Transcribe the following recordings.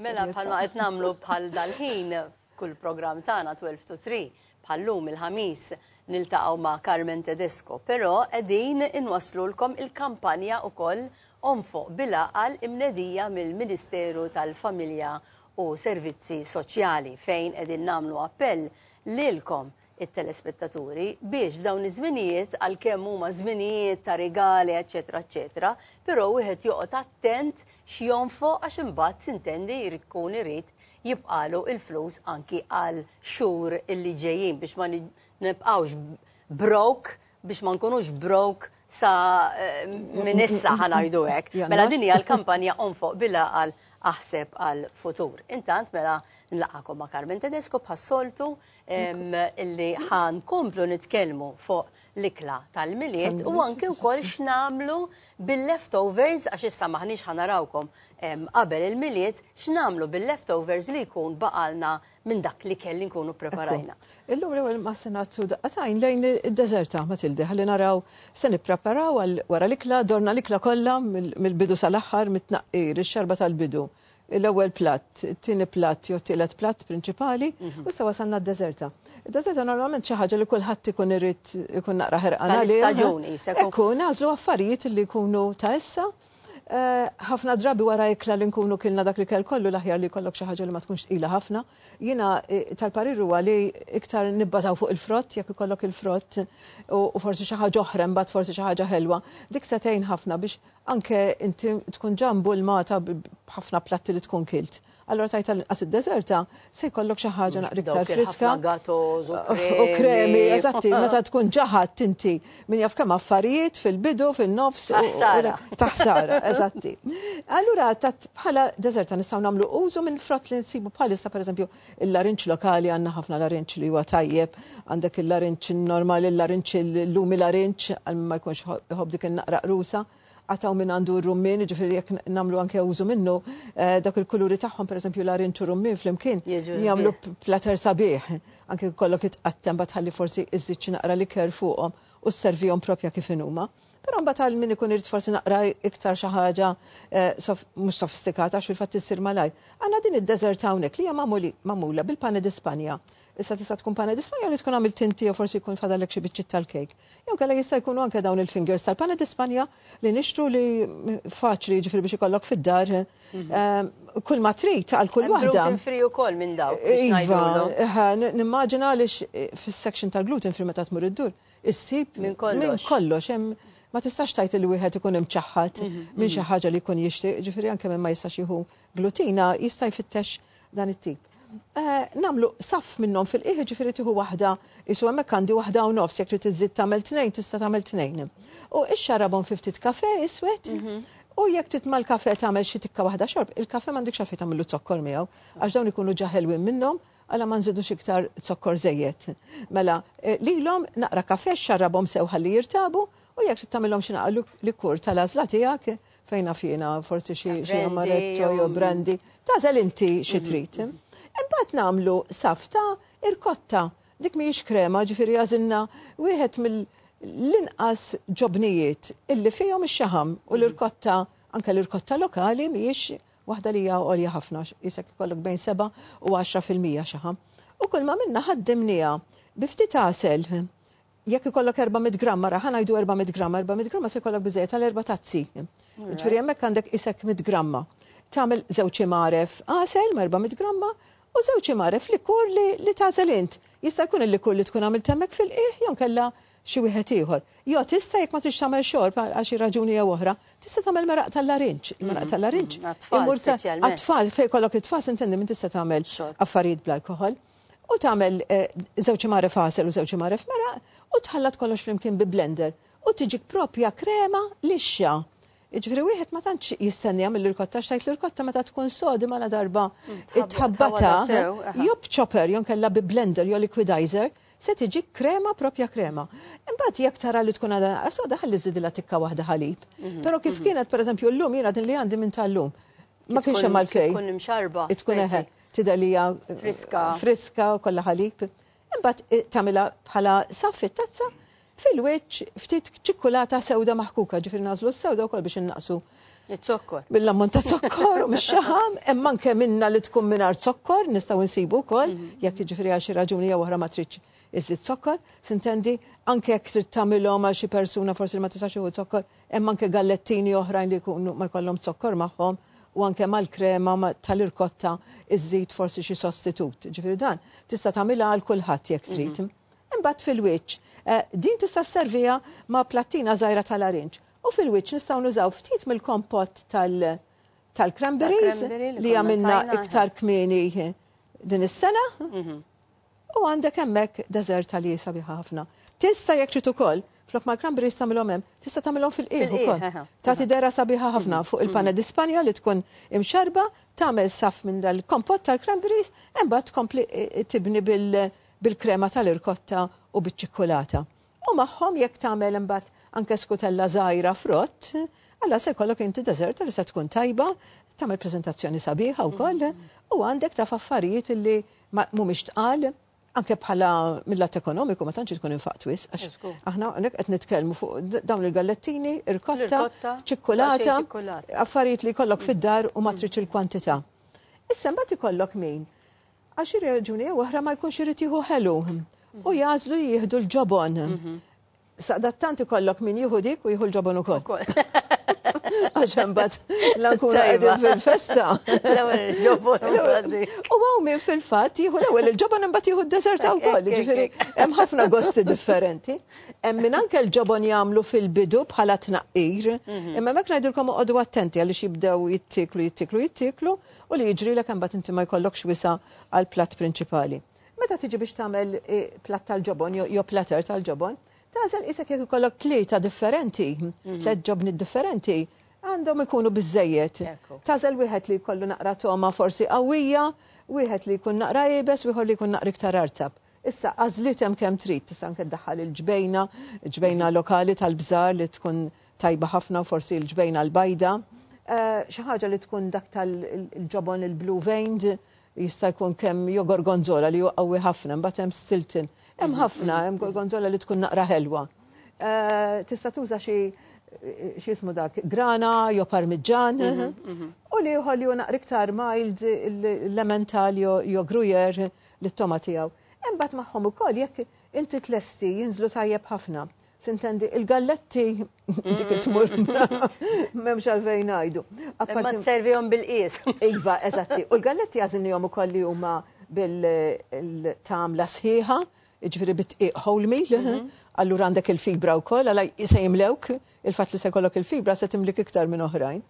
Mela bħalma qed nagħmlu bħal dal-ħin kull programm tagħna 12 to 3 bħallum il-ħamis niltaqgħu ma' Carmen Tedesco, però qegħdin inwasslulkom il-kampanja wkoll Onfoq bil-Għaqal imnedija mill-Ministeru tal-Familja u Servizzi Soċjali fejn qegħdin nagħmlu appell lilkom it-telespettaturi biex f'dawn iż-żminijiet għalkemm huma żminijiet ta' rigali eċċetera eċċetera, però wieħed joqgħod attent x'jonfoq għax imbagħad sintendi jrid ikun irid jibqgħalu l-flus anki għal xhur li ġejjin biex ma nibqgħux broke biex ma nkunux broke sa eh, minn issa ħanajdu hekk. Mela din hija l-kampanja onfoq bila għal aħseb għal futur. Intant mela nlaqakom ma' Carmen Tedesco bħas-soltu illi ħan komplu nitkellmu fuq l-ikla tal-miliet u anki wkoll x'namlu bil-leftovers għax issa maħniex ħanarawkom qabel il-miliet x'namlu bil-leftovers li jkun baqalna minn dak li kelli nkunu preparajna. Illum li għal maħsenat su daqqatajn lejn id-deżerta ma tildi ħalli naraw se nippreparaw għal wara l-ikla dorna l-ikla kollha mill-bidu sal-aħħar mit-tnaqqir, ix-xarba tal-bidu l-ewwel platt, it-tieni platt jew it-tielet platt prinċipali, u issa wasalna d-deżerta. Id-deżerta normalment xi ħaġa li kulħadd ikun irid ikun naqra ħerqan għaliha. Ekku, nagħżlu affarijiet li jkunu ta' issa. Eh, ħafna drabi wara ikla li nkunu kilna dak li kell kollu l-aħjar li jkollok xi ħaġa li ma tkunx tqila ħafna. Jiena eh, tal-parir huwa li iktar nibbażaw fuq il-frott jekk ikollok il-frott u forsi xi ħaġa oħra mbagħad forsi xi ħaġa ħelwa. Dik se tgħin ħafna biex Anke inti tkun ġa mbulmata b'ħafna platti li tkun kilt. Allura tgħid tal-inqas id-deżerta se jkollok xi ħaġa naqra iktar friska. U kremi, eżatti, meta tkun ġaħat inti min jaf kemm affarijiet fil-bidu, fin-nofs. Taħsara, eżatti. Allura bħala deżerta nistgħu nagħmlu użu minn frott li nsibu bħalissa pereżempju Il-larinġ lokali għandna ħafna larinġ li huwa tajjeb, għandek il-larinġ normali, il-larinġ il-lumi larinġ għal ma jkunx iħobb dik in-naqra qrusa għataw minn għandu r-rummin, ġifiri jek namlu anke użu minnu, eh, dak il-kuluri tagħhom, per esempio, la rinċu rummin fl-imkien, jgħamlu plater sabiħ, anke kollok it-qattem batħalli forsi iżżid naqra li ker fuqhom u s-servijom propja kif inuma. Però mbagħad għal min ikun irid forsi naqra iktar xi ħaġa eh, mhux sofistikata għax fil-fatt issir malajr. Għandna din id-deżert hawnhekk li hija magħmula bil-pane di Spanja. Issa tista' tkun pane di Spanja li tkun għamilt tinti jew forsi jkun fadalek xi biċċiet tal-kejk. Jew kellha jista' jkunu anke dawn il-fingers tal-pane di Spanja li nixtru li faċli jiġifieri biex ikollok fid-dar mhm. eh, kull ma trid għal kull waħda. Gluten free ukoll minn dawk. Iva, eh, nimmaġina għaliex fis-section tal-gluten free meta tmur id-dur issib minn kollox hemm ma tistax tajt il wieħed ikun imċaħħad mhm, minn xi mhm. ħaġa li jkun jixtieq, ġifieri anke minn ma jistax jieħu glutina jista' jfittex dan it-tip. Eh, namlu saf minnhom fil-qiegħ ġifieri tieħu waħda isu hemmhekk għandi waħda u nofs jekk trid iżid tagħmel tnejn tista' tagħmel tnejn. U ix-xarabhom fi ftit kafe iswed mhm. U jekk titma l-kafe tagħmel xi tikka waħda xorb, il-kafe m'għandek xafi tagħmlu zokkor miegħu għax dawn ikunu ġaħelwin minnhom Għala ma nżidux iktar zokkor żejjed? Mela, eh, lilhom naqra kafè xarrabhom sew ħalli jirtabu u jekk trid tagħmilhom xi naqra likur tal-għażla tiegħek fejn naf jiena forsi xi xi amaretto jew brandy, tażel inti xi mhm. trid. Imbagħad nagħmlu safta irkotta. Dik mhijiex krema ġifieri għażilna wieħed mill l-inqas ġobnijiet illi fihom ix-xaħam u l-irkotta anke l-irkotta lokali mhijiex waħda li hija għolja ħafna, jisek ikollok bejn 7 u 10 fil-mija xaħa. U kull ma minna ħaddimnija bi ftit għasel jekk ikollok 400 gramma, raħan għajdu 400 gramma, 400 gramma se jkollok biżejjed għal erba' tazzi. Ġifieri hemmhekk għandek isek 100 gramma. Tagħmel żewġ imaref għasel ma' 400 gramma u żewġ imaref likur li tagħżel int. Jista' jkun il-likur li tkun għamil temmek fil-qiegħ jew kella xi wieħed ieħor. Jo tista' jekk ma tridx tagħmel xorb għal xi raġuni jew oħra, tista' tagħmel meraq tal-larinġ. Il-meraq tal-larinġ imur ta' għat-tfal fejn kollok it-tfal sintendi min tista' tagħmel affarijiet bl-alkoħol. U tagħmel eh, żewġ imgħaref għasel u żewġ imgħaref meraq u tħallat kollox flimkien bi blender u tiġik propja krema lixxa. Iġveri wieħed ma tantx jistennija mill-irkotta xtajt l-irkotta meta tkun sodi ma darba mm, it-tħabbata job chopper jon kella bi blender jo liquidizer se tiġi krema propja krema. Imbagħad jekk tara li tkun għadha naqra soda ħalli żidilha tikka waħda ħalib. Mhm, Però kif mhm. kienet pereżempju llum jiena din li għandi minn tal-lum. Ma kienx hemm għalfejn. Tkun imxarba. Tkun eħe. Tidher li hija friska. Friska kollha ħalib. Imbagħad eh, tagħmilha bħala saffi tazza Fil-wiċċ ftit ċikkulata sewda maħkuka, ġifieri nagħżlu s-sewda wkoll biex innaqqsu Iż-zokkor. Bil-ammont ta' zokkor u mix-xaħam, hemm anke minna li tkun mingħajr zokkor nistgħu nsibu wkoll, mhm. jekk jiġifieri għal xi raġuni jew oħra ma tridx iżid zokkor, sintendi anke jekk trid tagħmilhom għal xi persuna forsi li ma tistax iħu zokkor, hemm anke gallettini oħrajn li jkunu ma jkollhom zokkor magħhom u anke mal-krema tal-irkotta iżid forsi xi sostitut. Ġifieri dan tista' tagħmilha għal kulħadd jekk trid. Mhm. Imbagħad fil-wiċċ, din tista' sserviha ma' plattina żgħira ta' larinġ. U fil-wiċċ nistgħu nużaw ftit mill-kompott tal tal-cranberries li għamilna iktar kmieni din is-sena. U għandek hemmhekk deżerta li sabiħa ħafna. Tista' jekk trid ukoll Flok ma l-kramber jistamilhom hemm, tista' tagħmilhom fil-qiegħ ukoll. Tagħti dera sabiħa ħafna mm-hmm. fuq il-panna di Spanja li tkun imxarba, tagħmel saf minn dal-kompott tal-cranberries, imbagħad tkompli tibni bil- bil-krema tal-irkotta u biċ-ċikkulata. U magħhom jekk tagħmel imbagħad anke skutella żgħira frott, allura se jkollok inti deżerta li se tkun tajba, tagħmel preżentazzjoni sabiħa wkoll u għandek taf affarijiet li mhumiex tqal anke bħala mill-lat ekonomiku ma tantx tkun infaq twis għax aħna hawnhekk qed nitkellmu fuq dawn il-gallettini, irkotta, ċikkulata, affarijiet li jkollok fid-dar u ma tridx il-kwantità. Issa mbagħad ikollok min Għal xi raġuni jew oħra ma jkunx irid jieħu ħelu u jagħżlu li jieħdu l-ġobon. Mhm. Saqdattant ikollok min jieħu dik u jieħu l-ġobon ukoll. Għax imbagħad l-ankura qegħdin fil-festa. L-ewwel il-ġobon. U hawn min fil-fatt jieħu l-ewwel il-ġobon imbagħad jieħu d-deżerta wkoll, ġifieri hemm ħafna gosti differenti. Hemm min anke l-ġobon jagħmlu fil-bidu bħala tnaqqir, mhm. imma hekk ngħidilkom oqogħdu attenti għaliex jibdew jittiklu, jittiklu, jittiklu, u li jiġrilek imbagħad inti ma jkollokx wisa' għall-platt prinċipali. Meta tiġi biex tagħmel eh, platt tal-ġobon jew platter tal-ġobon, tażel isek jekk ikollok tlieta differenti, mhm. tliet ġobni differenti, għandhom ikunu biżejjed. Tażel wieħed li jkollu naqra toma forsi qawwija, wieħed li jkun naqra ibes, wieħed li jkun naqra iktar artab. Issa, għażliet hemm kemm trid, tista' anke ddaħħal il-ġbejna, ġbejna lokali tal-bżar li tkun tajba ħafna u forsi l-ġbejna l-bajda. Eh, xi ħaġa li tkun dak tal-ġobon il-blue veined jista' jkun kemm jo gorgonzola li huwa qawwi ħafna, mbagħad hemm stilton. Hemm ħafna, hemm gorgonzola li tkun naqra ħelwa. Eh, tista' tuża xi xismu dak, grana, jo parmiġġan, mhm, mhm. u li uħol li unaq riktar mild l-elemental jo grujer, lit-togħma tiegħu. Imbagħad magħhom ukoll jekk inti tlesti jinżlu tajjeb ħafna. Sintendi, il-galletti dik it-tmur m'hemmx għalfejn ngħidu. Imma tservihom bil-qies. Iva, eżatti. U l-galletti għażilnihom ukoll li huma bil-tamla sħiħa, jiġifieri bit-tqiq whole meal, mhm. allura għandek il-fibra wkoll għal se jimlewk Il-fatt li se jkollok il-fibra se timlik iktar minn oħrajn.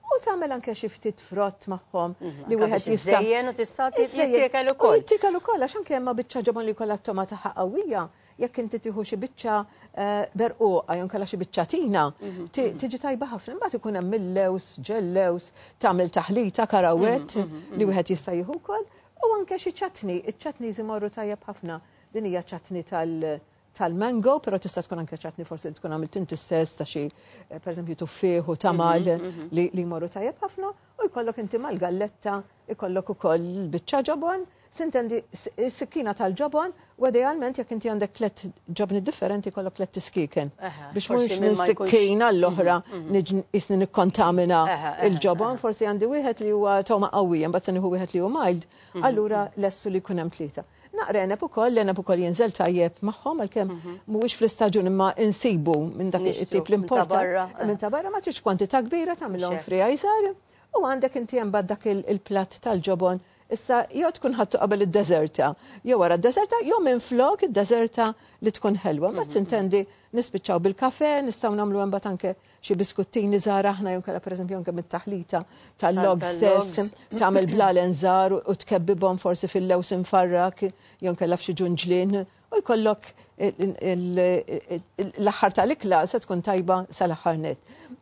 U tagħmel anke xi ftit frott magħhom mhm, li wieħed jista' Żejjen u tista' jittiekel ukoll. Jittiekel ukoll għax anke hemm biċċa ġobon li jkollha t-toma tagħha qawwija jekk inti tieħu xi biċċa eh, berquqa jew kellha xi biċċa tina, mhm, mhm. tiġi tajba ħafna imbagħad ikun hemm millews, ġellews, tagħmel taħlita karawet mhm, li wieħed jista' jieħu wkoll u anke xi ċatni, iċ-ċatni jmorru tajjeb ħafna. Din hija ċatni tal- tal-mango, pero tista' tkun anke ċatni forsi li tkun għamilt inti stess ta' xi eh, pereżempju tuffieħ u tamal mhm, mhm. li jmorru tajjeb ħafna u jkollok inti mal-galletta jkollok ukoll biċċa ġobon, sintendi s-sikkina tal-ġobon u idealment jekk inti għandek tlet ġobni differenti jkollok tlet tiskiken biex mhux minn sikkina l-oħra mhm, isni nikkontamina il-ġobon, forsi għandi wieħed li huwa tawma qawwija mbagħad se nieħu wieħed li hu mild, allura lessu li jkun hemm tlieta. Naqra għeneb ukoll, l-għeneb ukoll jinżel tajjeb magħhom għalkemm mhm. mhuwiex fl-istaġun imma insibu minn dak it-tip l-importa. Minn ta' barra ma tridx kwantità kbira tagħmilhom fri għajżar u għandek inti hemm dak il-platt tal-ġobon Issa, jew tkun ħattu qabel id-deserta, jew wara d-deserta, jew minn flok id-deserta li tkun ħelwa. Ma mhm. tintendi nispiċċaw bil-kafe, nistgħu nagħmlu hemm anke xi biskuttini żgħar aħna jew kellha pereżempju anke mit-taħlita tal-log stess tagħmel blalen żgħar u tkebbibhom forsi fil-lews imfarrak jew kellha f'xi ġunġlien u jkollok l-aħħar tal-ikla se tkun tajba sal-aħħar net.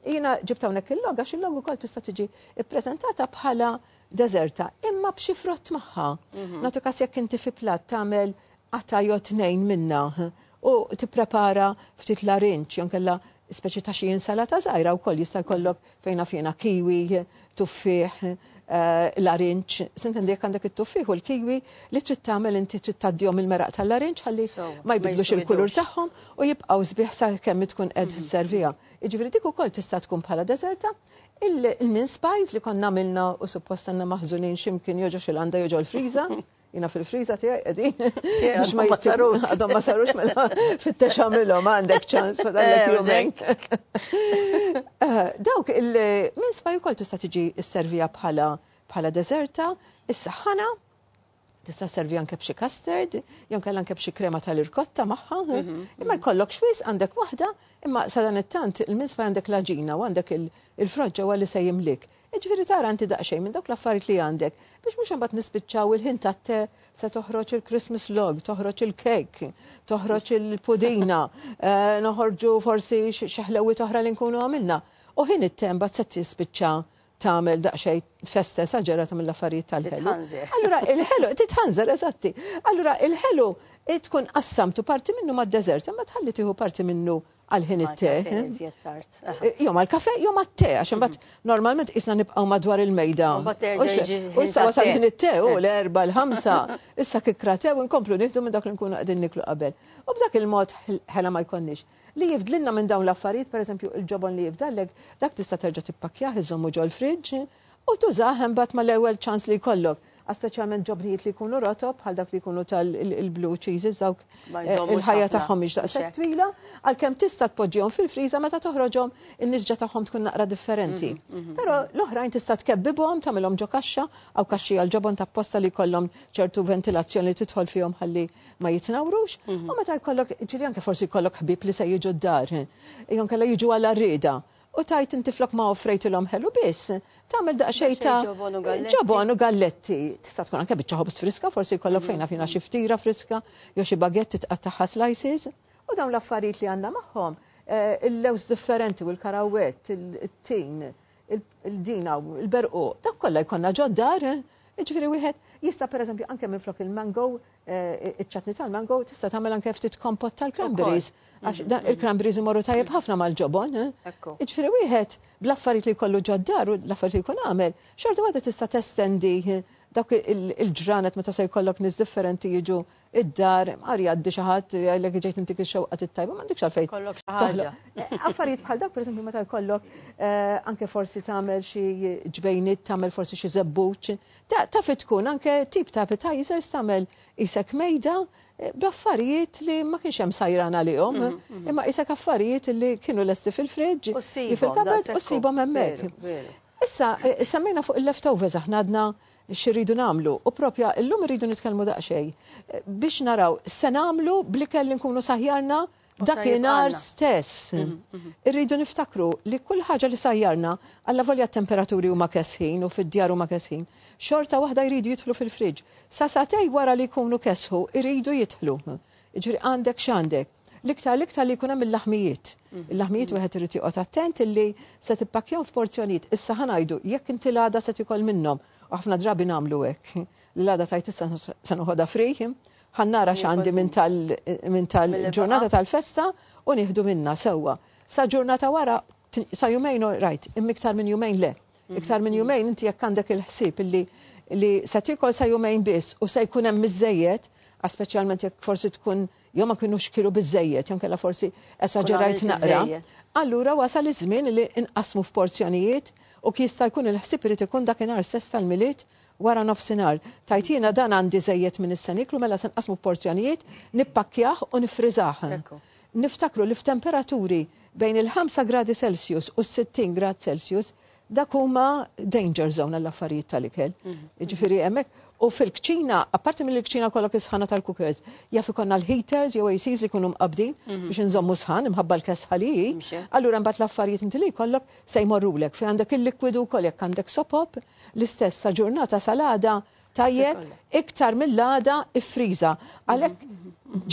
Jiena ġibt hawnhekk il-log għax il-log ukoll tista' tiġi ppreżentata bħala deżerta imma b'xi frott magħha. Mhm. Nagħtu kas jekk inti fi plat tagħmel qatta' jew tnejn minnha u tipprepara ftit larinġ jew inkella speċi ta' xi insalata żgħira wkoll jista' jkollok fejn naf jiena kiwi, tuffieħ, eh, larinġ, sintendi jekk għandek it-tuffieħ u l-kiwi li trid tagħmel inti trid tgħaddihom il-meraq tal-larinġ ħalli ma jbidlux il-kulur tagħhom u jibqgħu sbieħ sakemm tkun qed mhm. serviha. Jiġifieri dik ukoll tista' tkun bħala deżerta il-min spice li konna għamilna u suppost għandna maħżunin ximkien joġo xil-għanda joġo l-friża. Jina fil-friza tijaj edin. Għadhom ma sarux. Għadhom ma sarux mela fit-tex għamilom għandek ċans ma dallek eh, jumeng. Eh, dawk il-min sbaj kol tista tiġi s-servija bħala bħala deserta, is-saħħana, tista' servi anke b'xi custard, jew kellha anke b'xi krema tal-irkotta magħha. Mhm, mhm. Imma jkollok xwiz għandek waħda, imma sadan it-tant il-minsfa għandek l-aġina u għandek il-froġġa għalli se jimlik. Jiġifieri tara inti daqsxejn minn dawk l-affarijiet li għandek biex mhux imbagħad nispiċċaw il-ħin tat-te se toħroġ il-Christmas log, toħroġ il-cake, toħroġ il-pudina, eh, noħorġu forsi xi ħlewwiet oħra li nkunu għamilna. U ħin it-te mbagħad se tispiċċa tagħmel daqsxejn festa esaġerata mill-affarijiet tal-ħelu. Allura il-ħelu titħanżer eżatti. Allura il-ħelu tkun qassamtu parti minnu mad-deżert, imma tħalli tieħu parti minnu għal ħin it-te. Jom għal kafe, jom għal te, għax imbagħad mhm. normalment isna nibqgħu madwar il-mejda. U issa wasal ħin it-te u eh. l-erba' l-ħamsa, issa kikra te u nkomplu nieħdu minn dak li nkunu qegħdin niklu qabel. U b'dak il-mod ħela ma jkollniex. Li jifdlinna minn dawn l-affarijiet, pereżempju il-ġobon li jifdallek, dak tista' terġa' tippakkjah iżommu ġol friġġ, eh? U tużah imbagħad mal-ewwel ċans li jkollok, a speċjalment ġobnijiet li jkunu rotob bħal dak li jkunu tal il-blue cheeses dawk Ma eh, jżommux il-ħajja ħafna. tagħhom mhix Mhux daqshekk hekk. twila, għalkemm tista' tpoġġihom fil-friża meta toħroġhom in-nisġa tagħhom tkun naqra differenti. Però l-oħrajn tista' tkebbibhom, tagħmilhom ġo kaxxa, hawn kaxxi għall-ġobon ta' posta li jkollhom ċertu ventilazzjoni li tidħol fihom ħalli ma jitnawrux. U meta jkollok, ġieli anke forsi jkollok ħbieb li se jiġu d-dar, eh, jew kella jiġu għal arrieda. U tgħid inti flok ma offrejtilhom ħelu biss, tagħmel daqsxejn ta' ġobon u galletti. Tista' tkun anke biċċa ħobż friska, forsi jkollok mm. fejn nafina xi ftira friska, jew xi bagetti tqattagħha slices. U dawn l-affarijiet li għandna magħhom, eh, il-lews differenti u l-karawet, il-tin, il-dina, il-berqu, dak kollha jkollna ġoddar, eh? ġifieri wieħed jista' pereżempju anke minflok il-mango Eh, iċ-ċatni tal-mango tista' tagħmel anke ftit kompott tal-cranberries. Għax mm-hmm. il-cranberries imorru tajjeb ħafna mal-ġobon. Eh? Iġifieri wieħed bl-affarijiet li jkollu ġoddar u l-affarijiet li jkun għamel, xorta waħda tista' testendi eh, dak il-ġranet meta se jkollok nies differenti jiġu id-dar, għar jgħaddi xi ħadd jgħidlek ġejt intik ix-xewqa tittajba, m'għandekx għalfejn. Kollok xi ħaġa. Affarijiet bħal dak pereżempju meta jkollok anke forsi tagħmel xi ġbejniet, tagħmel forsi xi żebbuċ, Taf tkun anke tip ta' appetizers tagħmel qisek mejda eh, b'affarijiet li ma kienx hemm sajran għalihom, mhm, mhm. imma qisek affarijiet li kienu lesti fil-friġġ, fil-kabad u ssibhom hemmhekk. Issa, eh, semmejna fuq il-leftovers aħna għadna xirridu namlu. U propja, illum rridu nitkellmu daqxej. Eh, biex naraw, se namlu blikel li nkunu saħjarna Dakinhar stess. Mhm, mhm. Irridu niftakru li kull ħaġa li sajjarna għalla volja temperaturi huma kesħin u fid-djar huma kesħin, xorta waħda jridu jidħlu fil-friġġ. Sa satej wara li jkunu kesħu jridu jidħlu. Ġri għandek x'għandek. L-iktar l-iktar li jkun hemm il-laħmijiet. Mhm. Il-laħmijiet wieħed irid joqgħod attent illi se tippakjaw f'porzjonijiet. Issa ħanajdu jekk inti l-għada se tikol minnhom. Aħna drabi nagħmlu hekk. L-għada tajt issa se noħodha frih Ħa nara x'għandi minn tal minn tal-ġurnata tal-festa u nieħdu minnha sewwa. Sa ġurnata wara, sa jumejn all right, imma iktar minn jumejn le. Iktar minn jumejn inti jekk għandek il-ħsieb illi li se tiekol sa jumejn biss u se jkun hemm miżżejjed, għax speċjalment jekk forsi tkun jew ma kinux kielu biżżejjed jew inkella forsi esaġerajt naqra, allura wasal iż-żmien li inqassmu f'porzjonijiet u jista' jkun il-ħsieb irid ikun dakinhar stess tal-Milied Wara nofsinhar, tgħid jiena dan għandi żejjed minn issa nieklu mela se nqassmu f'porzjonijiet, nippakkjah u niffriżah. Niftakru li f'temperaturi bejn il-ħamsa gradi Celsius u s-sittin grad Celsius dak huma danger zone għall-affarijiet tal-ikel. Jiġifieri hemmhekk u fil-kċina, apparti milli l-kċina jkollok is-sħana tal-cookers, jaf ikollna l-heaters jew ACs li jkunu mqabbdin biex inżommu sħan imħabba l-kesħa li hi, allura mbagħad l-affarijiet inti li jkollok se jmorrulek. Fejn għandek il-likwidu wkoll jekk għandek sopop, L-istess sa ġurnata sal-għada tajjeb iktar mill-għada iffriża. Għalhekk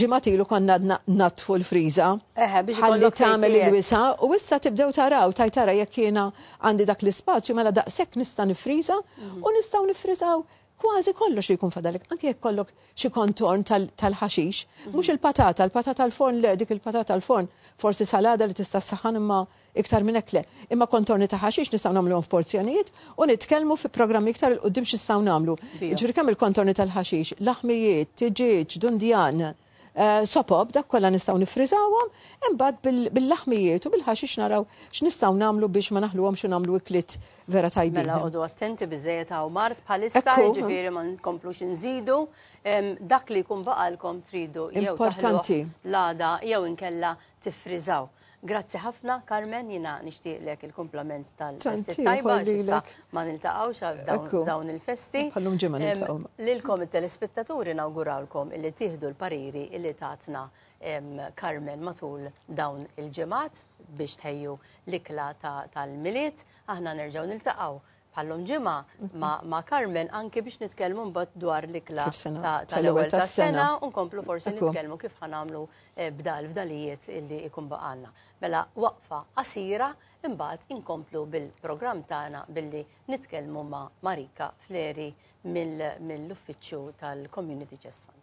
ġimgħat ilu konna għadna natfu l-friża. Eħe, biex ħalli tagħmel il-wisa u issa tibdew taraw taj tara jekk jiena għandi dak l-ispazju mela daqshekk nista' nifriża mhm. u nistgħu nifriżaw kważi kollox li jkun fadalik, anke jekk kollok xi kontorn tal-ħaxix, mhm. mhux il-patata, il-patata l-forn le, dik il-patata l-forn, forsi salada li tista' saħan imma Iktar minn hekk le. Imma kontorni ta' ħaxix nistgħu nagħmluhom f'porzjonijiet u nitkellmu fi programmi iktar 'il quddiem x'nistgħu nagħmlu. Jiġifieri kemm il-kontorni tal-ħaxix, laħmijiet, tiġieġ, dundjan, sopob, dak kollha nistgħu niffriżawhom, imbagħad bil-laħmijiet u bil-ħaxix naraw x'nistgħu nagħmlu biex ma naħluhomx u nagħmlu ikliet vera tajbin. Mela qogħdu attenti biżżejjed hawn mart bħalissa, jiġifieri ma nkomplux inżidu dak li jkun baqalkom tridu jew taħluh l-għada jew inkella tiffriżaw. Grazzi ħafna, Carmen, jina nishtiqlek il-komplament tal-festi tajba, xissa ma niltaqawx għal dawn il-festi. Pallum ġemma niltaqaw. Lilkom il-telespettaturi nawgurawlkom illi tiħdu l-pariri illi tatna Carmen matul dawn il-ġemat biex tħejju l-ikla tal-miliet. Aħna nerġaw niltaqaw bħal-lum ġimgħa ma' Carmen anki biex nitkellmu mbagħad dwar l-ikla tal-ewwel tas-sena u nkomplu forsi nitkellmu kif ħa nagħmlu eh, bdal fdalijiet illi jkun baqalna. Mela waqfa qasira imbagħad inkomplu bil-programm tagħna billi nitkellmu ma' Marika Fleri mill-uffiċċju tal-Community Chest Fund.